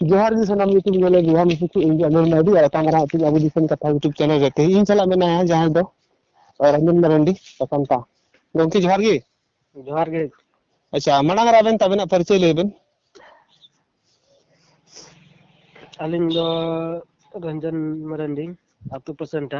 ᱡᱚᱦᱟᱨ ᱜᱮ ᱥᱟᱱᱟᱢ ᱧᱩᱛᱩᱢ ᱧᱮᱞ ᱵᱚᱭᱦᱟ ᱢᱤᱥᱤ ᱠᱚ ᱤᱧ ᱜᱮ ᱟᱢᱚᱞ ᱢᱟᱨᱰᱤ ᱟᱨ ᱛᱟᱝ ᱨᱟᱜ ᱛᱮ ᱟᱵᱚ ᱫᱤᱥᱚᱢ ᱠᱟᱛᱷᱟ ᱭᱩᱴᱩᱵᱽ ᱪᱮᱱᱮᱞ ᱨᱮ ᱛᱮᱦᱮᱧ ᱤᱧ ᱥᱟᱞᱟᱜ ᱢᱮᱱᱟᱭᱟ ᱡᱟᱦᱟᱸᱭ ᱫᱚ ᱨᱚᱧᱡᱚᱱ ᱢᱟᱨᱟᱱᱰᱤ ᱥᱟᱥᱟᱱᱛᱟ ᱜᱚᱢᱠᱮ ᱡᱚᱦᱟᱨ ᱜᱮ ᱡᱚᱦᱟᱨ ᱜᱮ ᱟᱪᱪᱷᱟ ᱢᱟᱲᱟᱝ ᱨᱮ ᱟᱵᱮᱱ ᱛᱟᱵᱮᱱᱟᱜ ᱯᱚᱨᱤᱪᱚᱭ ᱞᱟᱹᱭ ᱵᱮᱱ ᱟᱹᱞᱤᱧ ᱫᱚ ᱨᱚᱧᱡᱚᱱ ᱢᱟᱨᱟᱱᱰᱤ ᱟᱛᱳ ᱯᱟᱥᱮᱱᱴᱟ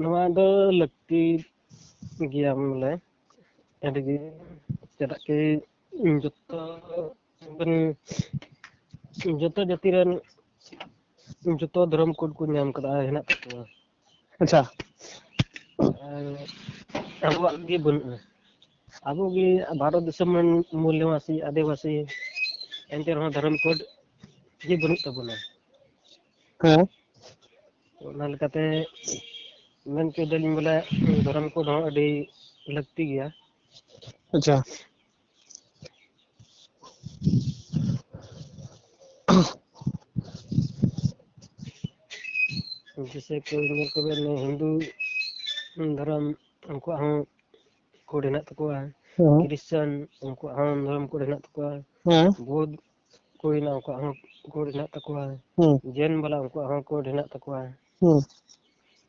ᱱᱚᱣᱟ ᱫᱚ ᱞᱟᱹᱠᱛᱤ ᱜᱮᱭᱟ ᱵᱚᱞᱮ ᱟᱹᱰᱤ ᱜᱮ ᱪᱮᱫᱟᱜ ᱠᱤ ᱡᱚᱛᱚ ᱡᱚᱛᱚ ᱡᱟᱹᱛᱤ ᱨᱮᱱ ᱡᱚᱛᱚ ᱫᱷᱚᱨᱚᱢ ᱠᱳᱰ ᱠᱚ ᱧᱟᱢ ᱠᱟᱫᱟ ᱦᱮᱱᱟᱜ ᱛᱟᱠᱚᱣᱟ ᱟᱪᱪᱷᱟ ᱟᱨ ᱟᱵᱚᱣᱟᱜ ᱜᱮ ᱵᱟᱹᱱᱩᱜᱼᱟ ᱟᱵᱚ ᱜᱮ ᱵᱷᱟᱨᱚᱛ ᱫᱤᱥᱚᱢ ᱨᱮᱱ ᱢᱩᱞᱱᱤᱣᱟᱥᱤ ᱟᱹᱫᱤᱵᱟᱹᱥᱤ ᱮᱱᱛᱮ ᱨᱮᱦᱚᱸ ᱫᱷᱚᱨᱚᱢ ᱠᱳᱰ ᱜᱮ ᱵᱟᱹᱱᱩᱜ ᱛᱟᱵᱚᱱᱟ ᱦᱮᱸ ᱚᱱᱟ ᱞᱮᱠᱟᱛᱮ ᱢᱮᱱ ᱦᱚᱪᱚᱭ ᱫᱟᱞᱤᱧ ᱵᱚᱞᱮ ᱫᱷᱚᱨᱚᱢ ᱠᱳᱰ ᱦᱚᱸ ᱟᱹᱰᱤ ᱞᱟᱹᱠᱛᱤ ᱜᱮᱭᱟ ᱟᱪᱪᱷᱟ जैसे कोई ᱧᱮᱞ ᱠᱚᱵᱮᱱ ᱦᱤᱱᱫᱩ ᱫᱷᱚᱨᱚᱢ ᱩᱱᱠᱩᱣᱟᱜ ᱦᱚᱸ ᱠᱳᱰ ᱦᱮᱱᱟᱜ ᱛᱟᱠᱚᱣᱟ ᱠᱨᱤᱥᱪᱟᱱ ᱩᱱᱠᱩᱣᱟᱜ ᱦᱚᱸ ᱫᱷᱚᱨᱚᱢ ᱠᱳᱰ ᱦᱮᱱᱟᱜ ᱛᱟᱠᱚᱣᱟ ᱵᱩᱫᱷ ᱠᱚ ᱦᱮᱱᱟᱜ ᱩᱱᱠᱩᱣᱟᱜ ᱦᱚᱸ ᱠᱳᱰ ᱦᱮᱱᱟᱜ ᱛᱟᱠᱚᱣᱟ ᱡᱮᱱ ᱵᱟᱞᱟ ᱩᱱᱠᱩᱣᱟᱜ ᱦᱚᱸ ᱠᱳᱰ ᱦᱮᱱᱟᱜ ᱛᱟᱠᱚᱣᱟ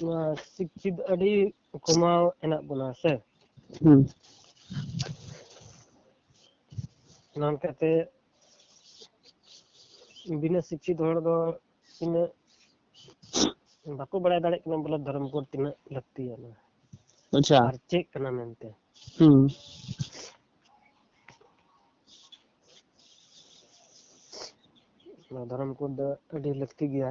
ᱱᱚᱣᱟ ᱥᱤᱠᱪᱷᱤᱛ ᱟᱹᱰᱤ ᱠᱚᱢᱟᱣ ᱦᱮᱱᱟᱜ ᱵᱚᱱᱟ ᱥᱮ ᱦᱩᱸ ᱚᱱᱟ ᱞᱮᱠᱟᱛᱮ ᱵᱤᱱᱟᱹ ᱥᱤᱠᱪᱷᱤᱛ ᱦᱚᱲ ᱫᱚ ᱛᱤᱱᱟᱹᱜ ᱵᱟᱠᱚ ᱵᱟᱲᱟᱭ ᱫᱟᱲᱮᱭᱟᱜ ᱠᱟᱱᱟ ᱵᱚᱞᱮ ᱫᱷᱚᱨᱚᱢ ᱠᱳᱰ ᱛᱤᱱᱟᱹᱜ ᱞᱟᱹᱠᱛᱤᱭᱟᱱᱟ ᱟᱪᱪᱷᱟ ᱟᱨ ᱪᱮᱫ ᱠᱟᱱᱟ ᱢᱮᱱᱛᱮ ᱦᱩᱸ ᱱᱚᱣᱟ ᱫᱷᱚᱨᱚᱢ ᱠᱳᱰ ᱫᱚ ᱟᱹᱰᱤ ᱞᱟᱹᱠᱛᱤ ᱜᱮᱭᱟ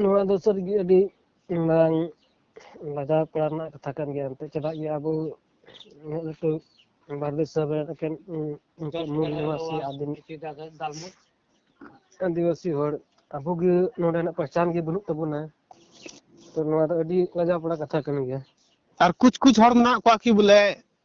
ᱱᱚᱣᱟ ᱫᱚ ᱥᱟᱹᱨᱤᱜᱮ ᱟᱹᱰᱤ ᱢᱟᱨᱟᱝ ᱞᱟᱡᱟᱣ ᱯᱟᱲᱟ ᱨᱮᱱᱟᱜ ᱠᱟᱛᱷᱟ ᱠᱟᱱ ᱜᱮᱭᱟ ᱮᱱᱛᱮᱫ ᱪᱮᱫᱟᱜ ᱡᱮ ᱟᱵᱚ ᱩᱱᱟᱹᱜ ᱞᱟᱹᱴᱩ ᱵᱷᱟᱨᱚᱛ ᱫᱤᱥᱚᱢ ᱨᱮ ᱮᱠᱮᱱ ᱢᱩᱞ ᱱᱤᱵᱟᱥᱤ ᱟᱹᱫᱤᱢ ᱟᱹᱫᱤᱵᱟᱹᱥᱤ ᱦᱚᱲ ᱟᱵᱚᱜᱮ ᱱᱚᱰᱮᱱᱟᱜ ᱯᱮᱦᱪᱟᱱ ᱜᱮ ᱵᱟᱹᱱᱩᱜ ᱛᱟᱵᱚᱱᱟ ᱛᱚ ᱱᱚᱣᱟ ᱫᱚ ᱟᱹᱰᱤ ᱞᱟᱡᱟᱣ ᱯᱟᱲᱟ ᱠᱟᱛᱷᱟ ᱠᱟᱱ ᱜᱮᱭᱟ ᱟᱨ ᱠᱩᱪ ᱠᱩᱪ ᱦᱚᱲ ᱢᱮᱱᱟᱜ ᱠᱚᱣᱟ ᱠᱤ ᱵᱚᱞᱮ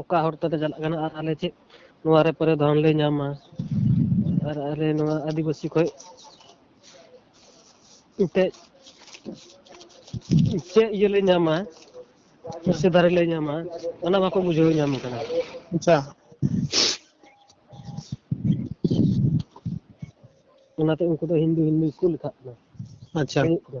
ᱚᱠᱟ ᱦᱚᱨ ᱛᱮᱞᱮ ᱪᱟᱞᱟᱜ ᱠᱟᱱᱟ ᱟᱨ ᱟᱞᱮ ᱪᱮᱫ ᱱᱚᱣᱟ ᱨᱮ ᱯᱚᱨᱮ ᱫᱷᱚᱱ ᱞᱮ ᱧᱟᱢᱟ ᱟᱨ ᱟᱞᱮ ᱱᱚᱣᱟ ᱟᱹᱫᱤᱵᱟᱹᱥᱤ ᱠᱷᱚᱡ ᱮᱱᱛᱮᱫ ᱪᱮᱫ ᱤᱭᱟᱹ ᱞᱮ ᱧᱟᱢᱟ ᱥᱮ ᱫᱟᱨᱮ ᱞᱮ ᱧᱟᱢᱟ ᱚᱱᱟ ᱵᱟᱠᱚ ᱵᱩᱡᱷᱟᱹᱣ ᱧᱟᱢ ᱠᱟᱱᱟ ᱟᱪᱪᱷᱟ ᱚᱱᱟᱛᱮ ᱩᱱᱠᱩ ᱫᱚ ᱦᱤᱱᱫᱩ ᱦᱤᱱᱫᱩ ᱜᱮᱠᱚ ᱞᱮᱠᱷᱟᱜ ᱠᱟᱱᱟ ᱟᱪᱪᱷᱟ ᱦᱩᱭᱩᱜ ᱠᱟᱱᱟ